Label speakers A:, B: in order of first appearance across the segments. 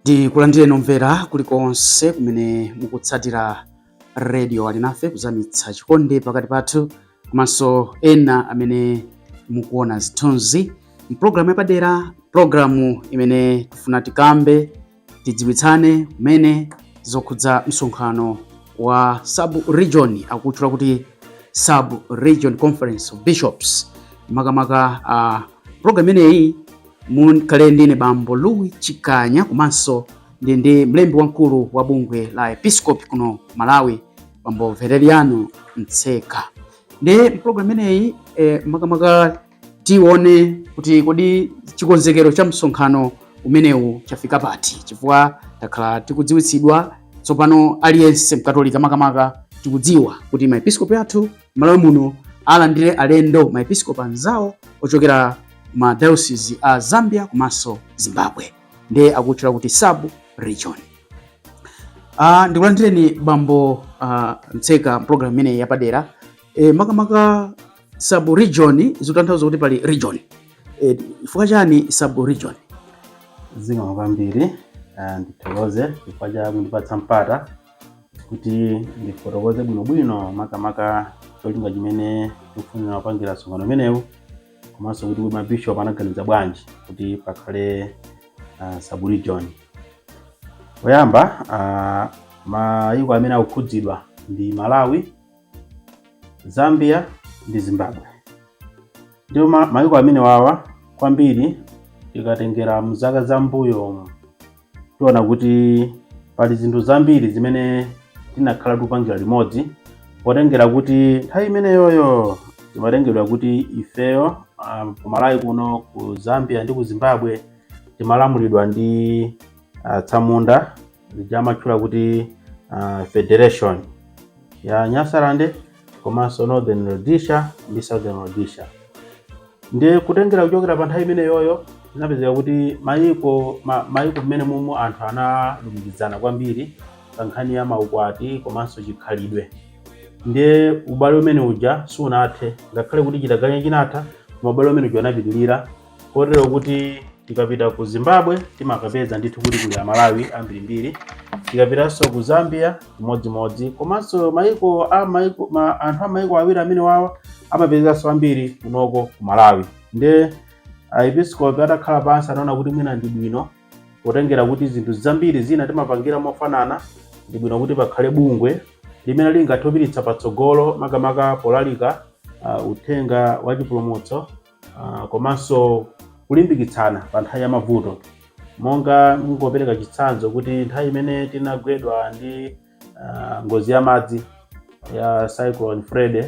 A: ndikulandireni omvera kulikonse kumene mukutsatira radio alinafe kuzamitsa chikondi pakati pathu komanso ena amene mukuona zithunzi mpulogalamu yapadera pulogalamu imene tifuna tikambe tidziwitsane kumene zokhudza msonkhano wa sub region akutchula kuti sub region conference of bishops makamaka uh, mprogram imeneyi mukhale ndine bambo louis chikanya komanso ndi ndi mlembi wamkulu wa bungwe la maepiskopi kuno malawi bambo valeriano mtseka ndiye mprogram imeneyi eh, makamaka tione kuti kodi chikonzekero cha msonkhano umenewu chafika pati chifukwa takhala tikudziwitsidwa tsopano aliyense mkatolika makamaka tikudziwa kuti maepiskopi athu mmalawi muno alandire alendo maepiskopi anzawo ochokera ma diocese a zambia komanso zimbabwe ndiye akutchula kuti sub region uh, ndikulandireni bambo uh, mtseka mpulogalamu imeneyi yapadera e, makamaka sub region zikutanthauza kuti pali region eh, chifukwa chani sub
B: region zikomo kwambiri ah, ndithokoze chifukwa cha kundipatsa mpata kuti ndifotokoze bwinobwino makamaka cholinga chimene tikufunira kupangira msonkhano umenewu komanso kuti kuti mabishop anaganiza bwanji kuti pakhale ah, sub region poyamba ah, mayiko amene akukhudzidwa ndi malawi Zambia ndi Zimbabwe ndipo mayiko amene wawa kwambiri tikatengera mzaka za mbuyo tiona kuti pali zinthu zambiri zimene tinakhala tikupangira limodzi potengera kuti nthawi imeneyoyo timatengedwa kuti ifeyo um, ku Malawi kuno ku Zambia ndi ku Zimbabwe timalamulidwa ndi atsamunda ija amatchula kuti uh, federation ya nyasalande komanso northern rhodesia ndi southern rhodesia ndiye kutengera kuchokera pa nthawi imeneyoyo zinapezeka kuti mayiko ma, mayiko amenewa anthu analumikizana kwambiri pa nkhani ya maukwati komanso chikhalidwe ndiye ubale umene uja sunathe ngakhale kuti chitaganya chinatha koma ubale umene uja unapitirira kotero kuti tikapita ku zimbabwe timakapeza ndithu kuti kuli amalawi ambirimbiri tikapitanso ku zambia chimodzimodzi komanso maiko a maiko ma, anthu a maiko awiri amene wawa amapezekanso ambiri kunoko ku malawi nde aepiskopi atakhala pansi anaona kuti mwina ndi bwino potengera kuti zinthu zambiri zina timapangira mofanana ndi bwino kuti pakhale bungwe limene lingathe kupititsa patsogolo makamaka polalika uh, uthenga wa chipulumutso uh, komanso kulimbikitsana pa nthawi ya mavuto monga kungopereka chitsanzo kuti nthawi imene tinagwedwa ndi uh, ngozi ya madzi ya cyclone Freddy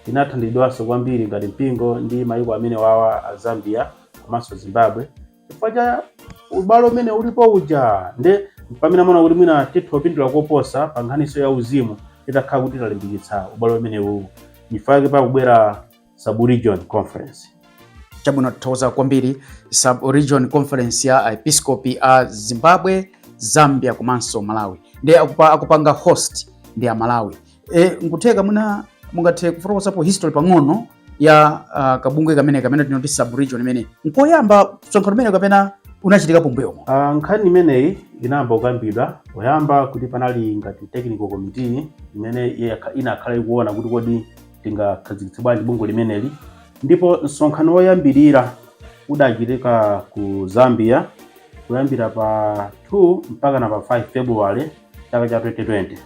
B: tinathandidwanso kwambiri ngati mpingo ndi mayiko amene wawa a Zambia komanso Zimbabwe chifukwa cha ubale umene ulipo uja nde pamene amaona kuti mwina titha kupindula koposa pa nkhaniso ya uzimu titakhala kuti talimbikitsa ubale umene uwu chifukwa chake pakubwera sub-region conference
A: chabwino tithokoza kwambiri sub-region conference ya aepiskopi a zimbabwe zambia komanso malawi ndi akupa, akupanga host ndi amalawi e, nkutheka mwina mungathe kufotokozapo history pang'ono ya uh, kabungwe kamene kamene timati sub-region imeneyi nkoyamba msonkhano umenewu kapena unachitika mmbuyomu uh, nkhani imeneyi
B: inayamba kukambidwa poyamba kuti panali ngati technical committee imene inakhala ikuona kuti kodi tingakhazikitse bwanji bungwe limeneli ndipo msonkhano woyambirira udachitika ku zambia kuyambira pa 2 mpaka na pa 5 february chaka cha 2020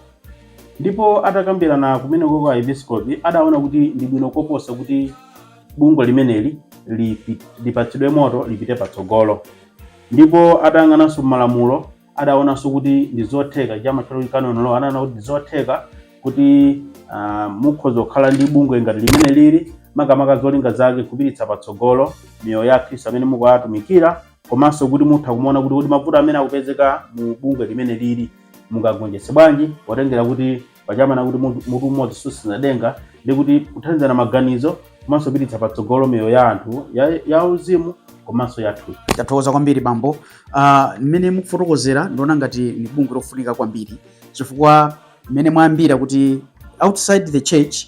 B: ndipo atakambirana kumeneko aepiskopi adaona kuti ndi bwino koposa kuti bungwe limeneli lipi- lipatsidwe moto lipite patsogolo ndipo atayang'ananso malamulo adaonanso kuti ndi zotheka ija amatchula kuti canon law adaona kuti ndi zotheka kuti ah, mukhoza kukhala ndi bungwe ngati limeneli makamaka zolinga zake kupititsa patsogolo miyoyo ya akhristu amene mukuwatumikira komanso kuti mutha kumaona kuti kodi mavuto amene akupezeka mu bungwe limeneli mungagonjetse bwanji potengera kuti paja amanena kuti munthu- mutu umodzi susenza denga ndi kuti kuthandizana maganizo komanso kupititsa patsogolo miyoyo ya anthu ya- ya uzimu komanso ya thupi tathokoza kwambiri bambo
A: Ah, mmene mukufotokozera ndiona ngati ni bungwe lofunika kwambiri chifukwa mmene mwayambira kuti outside the church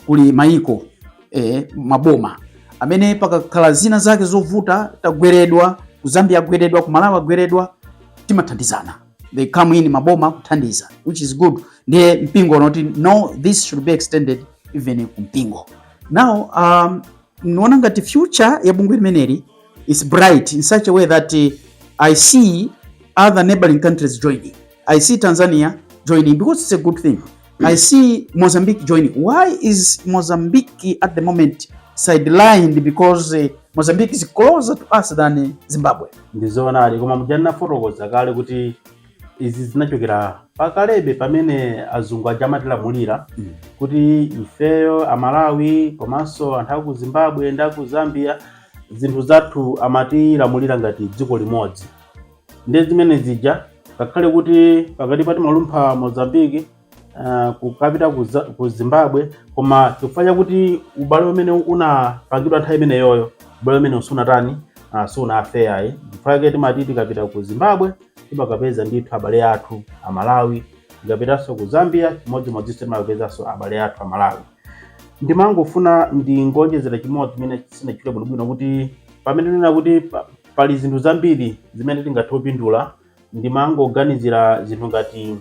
A: kuli mayiko eh, maboma amene pakakhala zina zake zovuta tagweredwa ku zambia agweredwa ku malawi agweredwa timathandizana they come in maboma kuthandiza which is good ndiye mpingo unati no this should be extended even ku mpingo now um, naona ngati future ya bungwe limeneli is bright in such a way that uh, i see other neighboring countries joining i see tanzania joining because it's a good thing I see Mozambique joining. Why is Mozambique at the moment sidelined? Because uh, Mozambique is closer to us than uh, Zimbabwe. Ndizoonadi koma
B: muja ndafotokoza kale kuti izi zinachokera pakale pamene azungu aja amatilamulira mm. kuti ifeyo amalawi komanso anthu aku zimbabwe ndi aku zambia zinthu zathu amatilamulira ngati dziko limodzi Ndiye zimene zija ngakhale kuti pakati pa timalumpha Mozambique uh, kukapita ku Za- ku Zimbabwe koma chifukwa chakuti ubale umene unapangidwa nthawi imeneyoyo ubale umene usunatani uh, sunafeya ayi chifukwa chake timati tikapita ku Zimbabwe timakapeza ndithu abale athu a Malawi tikapitanso ku Zambia chimodzimodzinso timakapezanso abale athu a Malawi ndimangofuna ndingonjezera chimodzi chimene sindinachite bwinobwino kuti pamene ndinena kuti pa- pali zinthu zambiri zimene tingathe kupindula ndimangoganizira zinthu ngati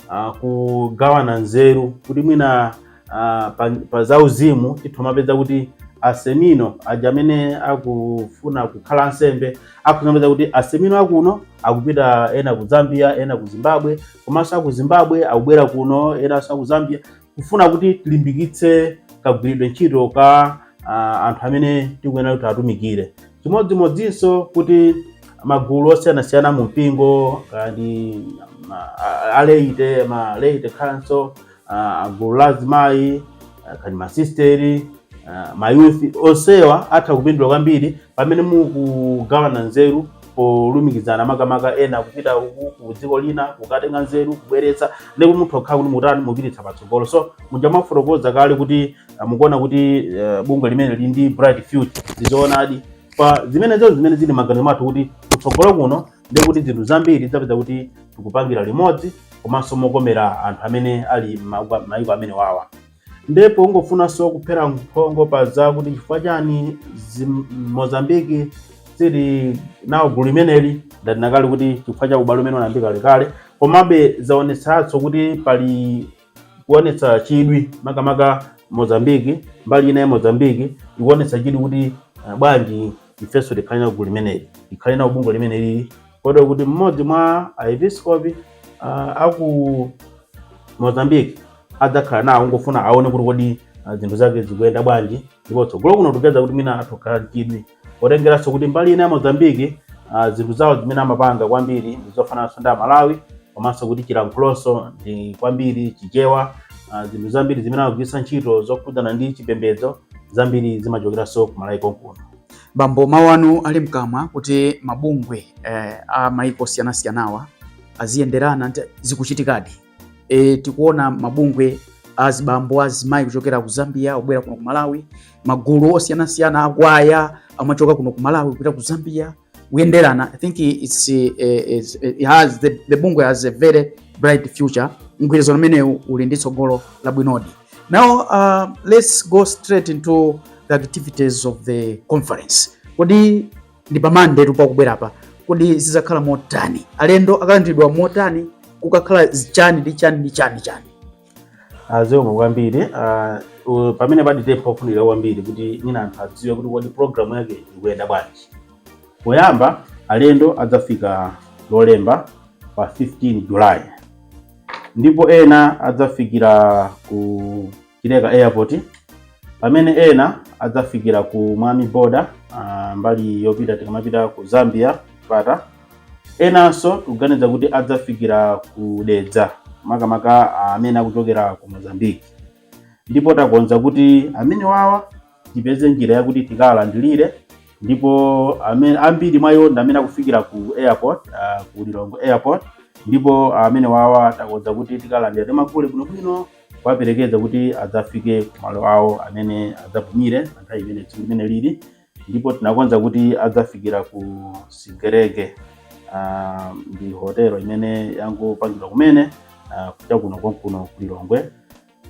B: ah, kugawana nzeru kuti mwina ah, pa, pa zauzimu titha kumapeza kuti asemino aja amene akufuna kukhala ansembe akuzapeza kuti asemino akuno akupita ena ku zambia ena ku zimbabwe komanso aku zimbabwe akubwera kuno enanso aku zambia kufuna kuti tilimbikitse kagwiridwe ntchito ka ah, anthu amene tikuyenera kuti atumikire chimodzimodzinso kuti magulu osiyanasiyana mu mpingo ngati ma- a- a laity ma laity council ah, gulu la azimayi ah, kaya ndi masisteri ah, mayuthi onsewa atha kupindula kwambiri pamene mukugawana nzeru polumikizana makamaka ena kupita uku ku dziko lina kukatenga nzeru kubweretsa ndipo mutha kukhala kuti mutani mupititsa patsogolo so muja mwafotokoza kale kuti eh, mukuona kuti eh, bungwe limeneli lili ndi bright future ndizoonadi pa zimenezo zimene zili maganizo mathu kuti kutsogolo kuno ndi kuti zinthu zambiri zapeza kuti tikupangira limodzi komanso mokomera anthu amene ali m'maiko- m'maiko amene wawa ndipo ungofunanso kuphera mphongo pa za kuti chifukwa chani mozambiki sili nawo gulu limeneli ndanena kale kuti chifukwa cha ubale umene unayambika kalekale komabe zaonetsanso kuti pali kuonetsa chidwi makamaka mozambiki mbali ina ya mozambiki ikuonetsa chidwi kuti uh, bwanji ifenso tikhale nawo gulu limeneli tikhale nawo bungwe limeneli kotero kuti mmodzi mwa aepiskopi ah, aku mozambique adzakhala nawo kungofuna aone kuti kodi ah, zinthu zake zikuyenda bwanji ndipo tsogolo kuno tipeza kuti mwina atha kukhala ndi chidwi potengeranso kuti mbali ina ya mozambique ah, zinthu zawo zimene amapanga kwambiri ndi zofanananso ndi malawi komanso kuti chilankhulonso ndi kwambiri chichewa ah, zinthu zambiri zimene amagwiritsa ntchito zokhudzana ndi chipembedzo zambiri zimachokeranso ku Malawi konkuno. Bambo,
A: mawu anu ali mkamwa kuti mabungwe eh, a maiko osiyanasiyanawa aziyenderana zikuchitikadi. E, tikuona mabungwe azibambo azimayi kuchokera ku Zambia kubwera kuno ku Malawi, magulu osiyanasiyana akwaya amachoka kuno ku Malawi kupita ku Zambia kuyenderana i think it's, eh, it's, it has the, the bungwe has a very bright future mgwirizano umenewu uli ndi tsogolo labwinodi now uh, let's go straight into the activities of the conference kodi ndi pa Monday tu pakubwerapa kodi zidzakhala motani alendo akalandiridwa motani kukakhala chani ndi chani ndi chani chani
B: Ah, zikomo kwambiri Ah, u- pamene palitepo kufunika kwambiri kuti mwina anthu adziwe kuti kodi programu yake ikuyenda bwanji poyamba alendo adzafika lolemba pa 15 july ndipo ena adzafikira ku chileka airport pamene ena adzafikira ku mwami border ah, mbali yopita tikamapita ku zambia pata Enanso tikuganiza kuti adzafikira ku Dedza makamaka amene akuchokera ku Mozambique ndipo takonza kuti amene wawa tipeze njira yakuti tikawalandilire ndipo amene ambiri mwa iwo ndi amene akufikira ku airport uh, ku Lilongwe airport ndipo amene wawa takonza kuti tikawalandira takulandirani bwinobwino kuwaperekeza kuti adzafike ku malo awo amene adzapumire pa nthawi imene tsiku limene lili ndipo tinakonza kuti adzafikira ku sigerege ah, ndi hotelo imene yangopangidwa kumene ah, kuja kuno konkuno ku lilongwe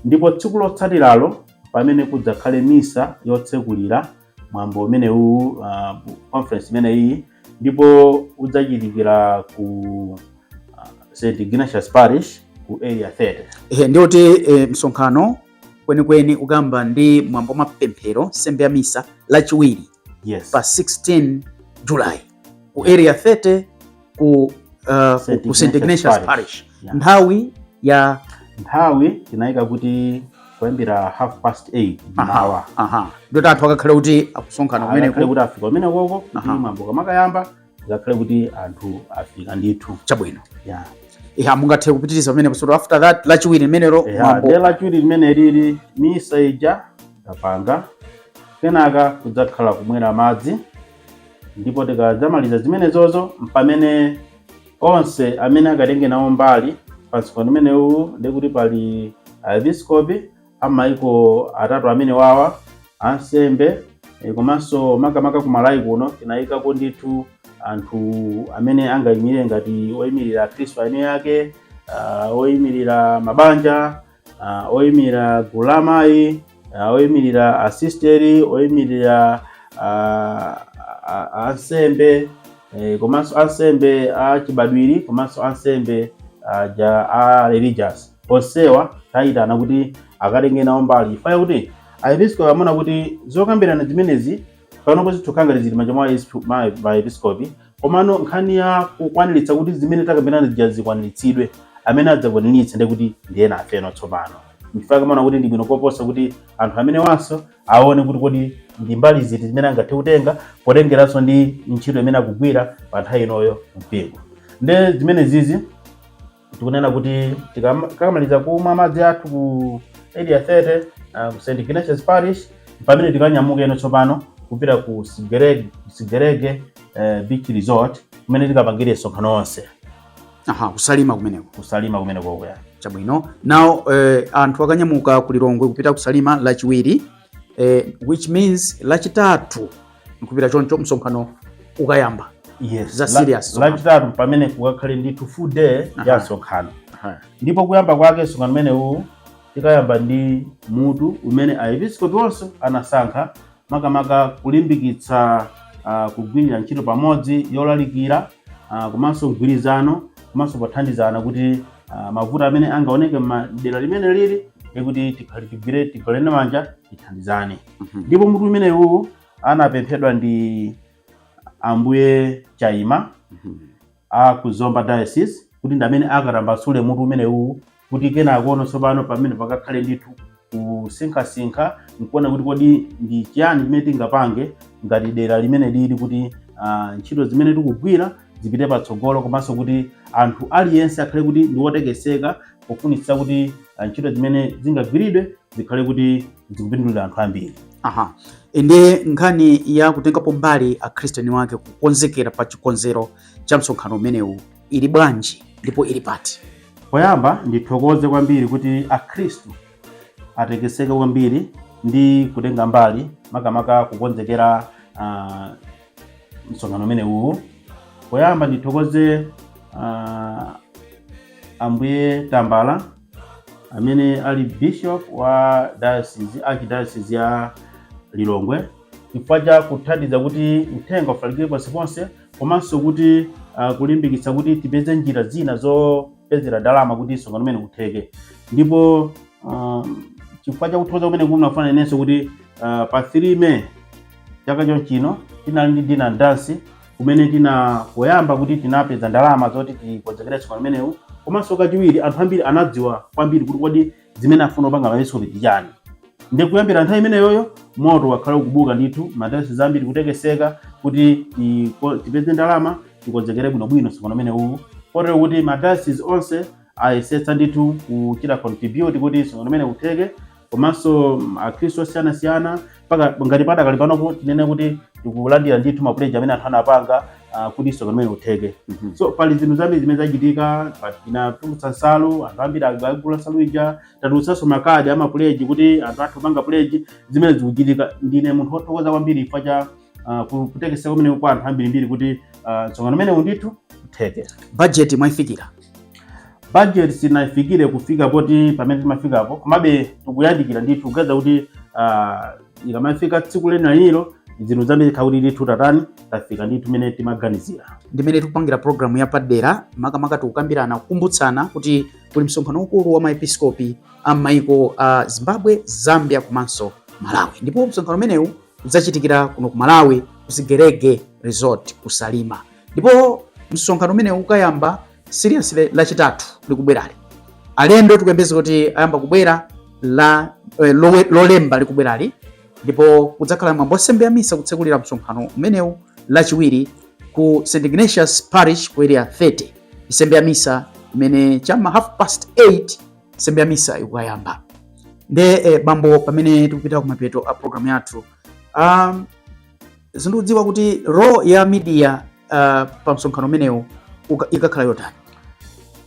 B: ndipo tsiku lotsatiralo pamene kudzakhale misa yotsekulira mwambo umenewu ah, conference imeneyi ndipo udzachitikira ku ah, st ignatius parish ku area 30 Ehe, ndiye kuti eh,
A: msonkhano kwenikweni ukayamba ndi mwambo wa mapemphero nsembe ya misa lachiwiri yes. pa 16 july ku area 30 ku, uh, St. ku St. Ignatius Parish yeah. nthawi ya
B: nthawi tinayika kuti kuyambira half past 8 mawa ndiye oti anthu
A: akakhale kuti akusonkhana kumeneko kuti afika kumenekoko
B: kuti mwambo ukamakayamba akakhale kuti anthu afika ndithu
A: chabwino yeah. yeah, mungathe kupitiriza pamenepo so after that lachiwiri limenelo yeah, de lachiwiri
B: limene lili misa ija tapanga kenaka kudzakhala kumwera madzi ndipo tikadzamaliza zimenezozo mpamene onse amene akatenge nawo mbali pa msonkhano umenewu ndikuti pali aepiskopi a m'maiko atatu amenewawa ansembe eh, komanso makamaka ku malawi kuno tinayikako ndithu anthu amene angayimirire ngati oyimirira akhristu eni ake ah, oyimirira mabanja ah, oyimirira gulu la amayi ah, oyimirira asisteri oyimirira ah, a- a- ansembe eh, komanso ansembe a chibadwiri komanso ansembe aja a religious Onsewa tayitana kuti akatenge nawo mbali chifukwa chakuti aepiskopi amaona kuti zokambirana zimenezi panopo zikukhala ngati zili m'manja mwa aesp- ma- maepiskopi komano nkhani ya kukwaniritsa kuti zimene takambirana zija zikwaniritsidwe amene adzakwaniritse ndi kuti ndi enafeno tsopano nchifukwa amaona kuti ndi bwino koposa kuti anthu amenewanso aone kuti kodi ndi mbali ziti zimene angathe kutenga potengeranso ndi ntchito imene akugwira pa nthawi inoyo mu mpingo nde zimene zizi tikunena kuti tikamaliza kumwa madzi athu ku Area 30 uh, ku St Ignatius Parish pamene tikanyamuka ino tsopano kupita ku Sigerege Sigerege uh, Beach Resort kumene tikapangire msonkhano onse aha ku
A: Salima kumeneko ku Salima kumeneko
B: eya chabwino
A: now eh, anthu akanyamuka ku Lilongwe kupita ku Salima lachiwiri eh, which means lachitatu nkupita choncho msonkhano ukayamba yes
B: za serious
A: lachitatu
B: pamene kukakhale ndithu full day ya msonkhano ndipo kuyamba kwake msonkhano umenewu tikayamba ndi mutu umene aepiskopi onse anasankha makamaka kulimbikitsa uh, kugwirira ntchito pamodzi yolalikira uh, komanso mgwirizano komanso pothandizana kuti uh, mavuto amene angaoneke m'madera limene lili e kuti tikhale tigwire tigwirane manja tithandizane Mhm. ndipo mutu umenewu anapemphedwa ndi ambuye Chaima Mhm. a ku Zomba diocese kuti ndi amene akatambasule mutu umenewu kuti kenakono tsopano pamene pakakhale ndithu kusinkhasinkha nkuona kuti kodi ndi chiyani chimene tingapange ngati dera limene lili kuti ah, ntchito zimene tikugwira zipite patsogolo komanso kuti anthu aliyense akhale kuti ndi wotekeseka pofunitsitsa kuti ah, ntchito zimene zingagwiridwe zikhale kuti zikupindulira anthu ambiri aha
A: inde nkhani ya kutengapo mbali akhristiyani wake kukonzekera pa chikonzero cha msonkhano umenewu ili bwanji ndipo ili pati poyamba
B: ndithokoze kwambiri kuti akhristu atekeseka kwambiri ndi kutenga mbali makamaka kukonzekera ah, msonkhano umenewu poyamba ndithokoze ah, ambuye Tambala amene ali bishop wa diocese archdiocese ya Lilongwe chifukwa cha kuthandiza kuti uthenga ufalikire ponseponse komanso kuti uh, kulimbikitsa kuti tipeze njira zina zopezera ndalama kuti msonkhano umenewu utheke ndipo um, chifukwa cha kuthokoza kumene ndafuna ndinenenso kuti uh, pa 3 May chaka chomwechino tinali ndi dinner dance kumene tina poyamba kuti tinapeza ndalama zoti tikonzekere msonkhano umenewu komanso kachiwiri anthu ambiri anadziwa kwambiri kuti kodi zimene afuna kupanga maepiskopizi ndi chani ndi kuyambira nthawi imeneyoyo moto wakhala ukubuka ndithu madayosizi ambiri kutekeseka kuti tiko- tipeze ndalama tikonzekere bwinobwino msonkhano umenewu kotero kuti madayosizi onse ayesetsa ndithu kuchita contribute kuti msonkhano umenewu utheke komanso akhristu osiyanasiyana mpaka ngati padakali panopo tinene kuti tikulandira ndithu mapuleji amene anthu anapanga ah, kuti msonkhano umene utheke Mhm. so pali zinthu zambiri zimene zachitika pa- tinatulutsa nsalu anthu ambiri ali- agula nsalu ija tatulutsanso makadi amapuleji kuti anthu athe kupanga puleji zimene zikuchitika ndine munthu wothokoza kwambiri chifukwa cha uh, ku- kutekeseka kumene kwa anthu ambirimbiri kuti uh, msonkhano umenewu ndithu utheke budget
A: mwaifikira
B: budget sitinaifikire kufika poti pamene timafikapo komabe tikuyandikira ndithu kuganiza kuti ah, ikamafika tsiku lenilenilo zinthu zambiri kuti ndithu tatani tafika ndithu mene timaganizira ndimene
A: tikupangira programu yapadera makamaka tikukambirana kukumbutsana kuti kuli msonkhano waukulu wa maepiskopi a maiko a zimbabwe zambia komanso malawi ndipo msonkhano umenewu udzachitikira kuno ku Malawi ku Sigerege Resort ku Salima, ndipo msonkhano umenewu ukayamba seriously lachitatu likubwerali. Alendo tikuyembeza kuti ayamba kubwera la eh, lolemba likubwerali, ndipo kudzakhala mwambo wa nsembe ya misa kutsekulira msonkhano umenewu lachiwiri ku St Ignatius Parish ku area 30 nsembe ya misa imene chama half past 8 nsembe ya misa ikukayamba nde eh, bambo pamene tikupita kumapeto a program yathu um, sindikudziwa kuti role ya media uh, pa msonkhano umenewu uka- ikakhala yotani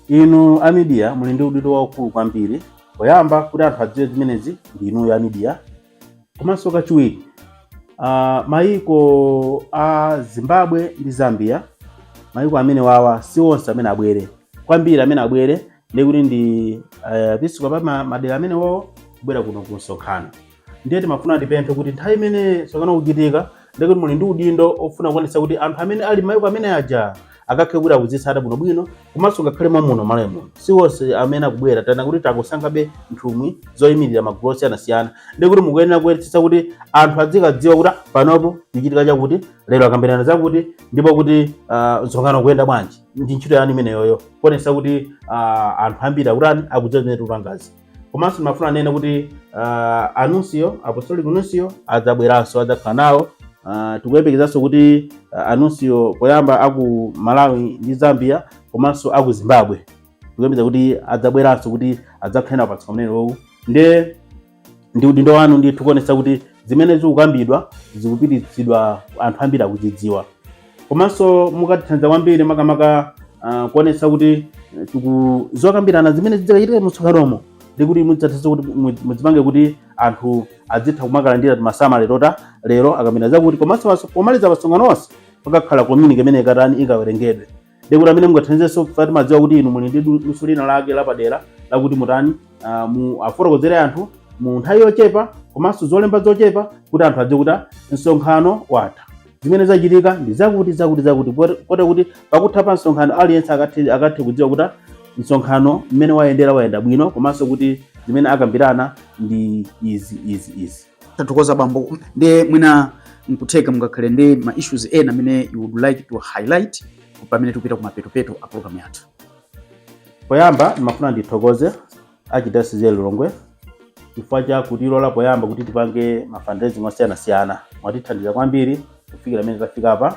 B: inu a media muli ndi udindo waukulu kwambiri poyamba kuti anthu adziwe zimenezi ndi inuyo a media komanso kachiwiri uh, mayiko a zimbabwe ndi zambia mayiko amenewawa si onse amene abwere kwambiri amene abwere ndi kuti ndi uh, maepiskopi a ma- madera amenewawo kubwera kuno ku msonkhano ndiye timafuna tipemphe kuti nthawi imene msonkhano ukuchitika ndiye kuti muli ndi udindo ofuna kuonetsa kuti anthu amene ali maiko amene aja akakhale kuti akuzitsata bwinobwino komanso ngakhale mwamuno m'Malawi muno si onse amene akubwera tana kuti takusankhabe nthumwi zoyimirira magulu osiyanasiyana ndiye kuti mukuyenera kuonetsetsa kuti anthu azikadziwa kuti "Ah, panopo kukuchitika chakuti lero akambirana zakuti ndipo kuti ah, msonkhano ukuyenda bwanji ndi ntchito yanu imeneyoyo kuonetsa kuti ah, anthu ambiri akutani akudziwa zimene tikupangazi komanso ndimafuna ndinene kuti uh, anuncio apostolic nuncio adzabweranso adzakhala nawo uh, tikuyembekezanso kuti uh, anuncio poyamba aku malawi ndi zambia komanso aku zimbabwe tikuyembeza kuti adzabweranso kuti adzakhale nawo pamsonkhano umenewowu nde ndi udindo wanu ndithu kuonetsa kuti zimene zikukambidwa zikupititsidwa anthu ambiri akuzidziwa komanso mukatithandiza kwambiri makamaka ah, kuonetsa kuti eh, tiku- zokambirana zimene zidzachitike mumsonkhanomo nde kuti mudzathandiza kuti mu- mudzipange kuti anthu adzitha kumakalandira timasamale oti lero akambirana zakuti komanso maso- pomaliza masonkhano onse pakakhala communique imene ikatani ikawerengedwe nde kuti mmene mungathandizenso ife timadziwa kuti inu muli ndi du- luso lina lake lapadera lakuti mutani ah, mu afotokozere anthu mu nthawi yochepa komanso zolemba zochepa kuti anthu adziwe kuti ah, msonkhano watha zimene zachitika ndi zakuti zakuti zakuti kotero kuti pakutha pa msonkhano aliyense akathe akathe kudziwa kuti msonkhano mmene wayendera wayenda bwino komanso kuti zimene akambirana ndi izi izi izi tathokoza
A: bambo nde mwina nkutheka mungakhale ndi ma issues ena amene you would like to highlight pamene tikupita kumapetopeto a program yathu
B: poyamba ndimafuna ndithokoze Archdiocese ya Lilongwe chifukwa cha kutilola poyamba kuti tipange ma fundraising osiyanasiyana mwatithandiza kwambiri kufikira mmene tafika apa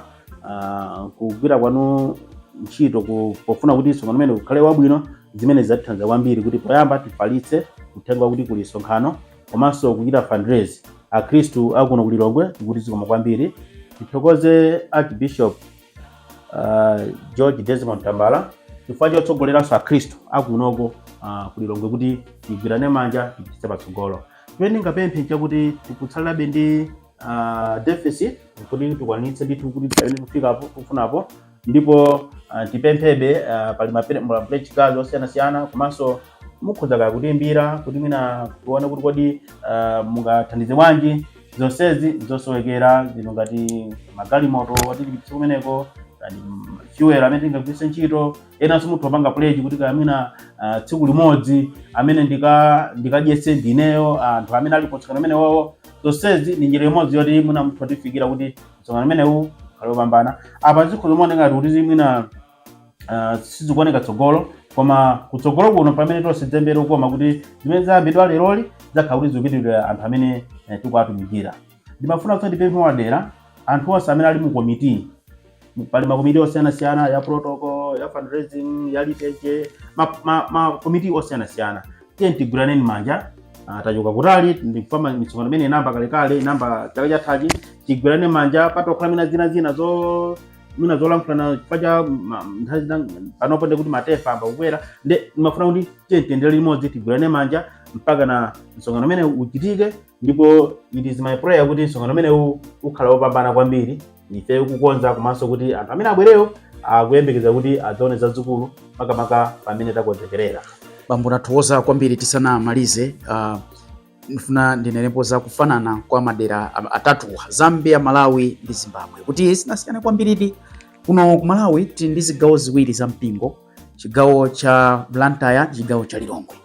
B: Ah, kugwira kwanu ntchito ku- pofuna kuti msonkhano umenewu ukhale wabwino zimene zatithandiza kwambiri kuti poyamba tifalitse uthenga wakuti kuli msonkhano komanso kuchita fundraise akhristu akuno ku Lilongwe tikuti zikomo kwambiri tithokoze archbishop uh, george desmond tambala chifukwa chotsogoleranso akhristu akunoko uh, ku Lilongwe kuti tigwirane manja tipititse patsogolo chimene ndingapemphe nchakuti tikutsalirabe ndi uh, deficit kuti tikwanitse ndithu kuti pamene tikufikapo tikufunapo ndipo uh, tipemphebe uh, pali ma pledge cards osiyanasiyana komanso mukhoza kaya kutiimbira kuti mwina tione kuti kodi uh, mungathandize bwanji zonsezi nzosowekera zino ngati magalimoto otipititsa kumeneko ngati fuel amene tingagwiritse ntchito enanso mutha kupanga pledge kuti kaya mwina ah, tsiku limodzi amene ndika- ndikadyetse ndineyo anthu amene ali kumsonkhano umenewowo zonsezi ndi njira imodzi yoti mwina mutha kutifikira kuti msonkhano umenewu ukhale wopambana apa zikhoza kumaoneka ngati kuti mwina Uh, sizikuoneka tsogolo koma kutsogolo kuno pamene tonse tidzasimbe lokoma kuti zimene zayambidwa leroli zakhala kuti zikupindulira anthu amene eh, tikuwatumikira ndimafuna kuti ndipemphe mwapadera anthu onse amene ali mu komiti pali makomiti osiyanasiyana ya protocol ya fundraising ya liturgy makomiti ma, ma makomiti osiyanasiyana tiye tigwirane manja ah, tachoka kutali ndikuthama misonkhano imene inayamba kalekale inayamba chaka chathachi tigwirane manja pazikhala mwina zina zina zo mwina zolankhulana chifukwa cha ma- nthawi zina panopo nde kuti ma temper ayamba kukwera nde ndimafuna kuti tiye tiyendere limodzi tigwirane manja mpaka na msonkhano umenewu uchitike ndipo it is my prayer kuti msonkhano umene u- ukhale wopambana kwambiri ife okukonza komanso kuti anthu amene abwerewo akuyembekeza kuti adzaone zazikulu makamaka pamene
A: takonzekerera bambo nathokoza
B: kwambiri
A: tisanamalize
B: uh,
A: nifuna ndinenepo za kufanana kwa madera a- atatuwa zambia malawi ndi zimbabwe kuti sinasiyane kwambiridi kuno ku malawi tili ndi zigawo ziwiri za mpingo chigawo cha blantyre ndi chigawo cha lilongwe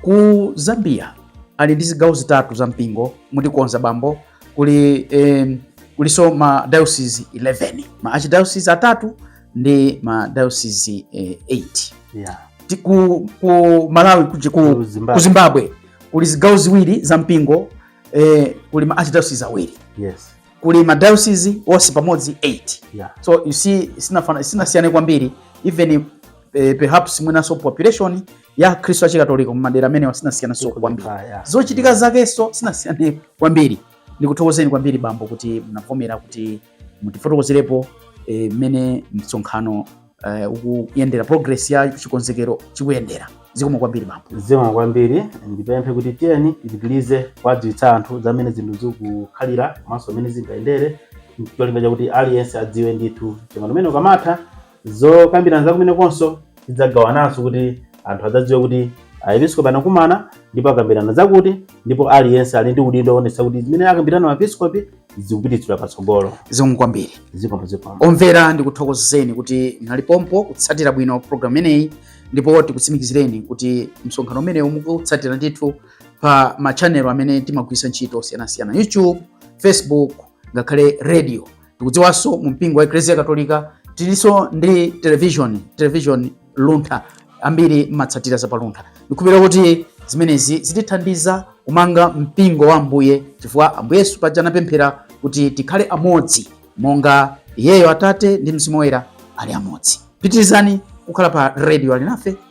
A: ku zambia ali ndi zigawo zitatu za mpingo mutikonza bambo kuli eh, kuliso ma diocese 11 ma archdiocese atatu ndi ma diocese eh, 8 yeah. Ti-
B: ku, ku
A: malawi kuji- ku, Ku Zimbabwe. ku zimbabwe kuli zigawo ziwiri za mpingo eh, kuli ma archdiocese awiri yes kuli
B: ma diocese
A: onse pamodzi 8 yeah. so you see sinafana- sinasiyane kwambiri even eh, perhaps mwinanso population ya Akhristu a Chikatolika mu madera amenewa sinasiyananso kwambiri, zochitika zakenso sinasiyane kwambiri. Ndikuthokozeni kwambiri bambo kuti munavomera kuti mutifotokozerepo eh, mmene e, msonkhano e, ukuyendera progress ya chikonzekero chikuyendera. Zikomo kwambiri bambo. Zikomo
B: kwambiri, ndipemphe kuti tiyeni tipitirize kuwadziwitsa anthu zamene zinthu zikukhalira komanso mmene zingayendere, cholinga chakuti aliyense adziwe ndithu umene ukamatha Zokambirana za kumenekonso tidzagawananso kuti anthu adzadziwe kuti aepiskopi anakumana ndipo akambirana zakuti ndipo aliyense ali ndi udindo woonetsa kuti zimene akambirana maepiskopi zikupititsidwa patsogolo zikomo kwambiri
A: zikomo zikomo omvera ndikuthokozeni kuti mnali pompo kutsatira bwino programu imeneyi ndipo tikutsimikizireni kuti msonkhano umenewu mukutsatira ndithu pa ma channel amene timagwiritsa ntchito osiyanasiyana youtube facebook ngakhale radio tikudziwanso mu mpingo wa eklezia katolika tilinso ndi television television luntha ambiri mmatsatira za paluntha ndikhulupira kuti zimenezi zitithandiza kumanga mpingo wa ambuye chifukwa ambuye yesu paja anapemphera kuti tikhale amodzi monga iyeyo atate ndi mzimu woyera ali amodzi pitirizani kukhala pa radio alinafe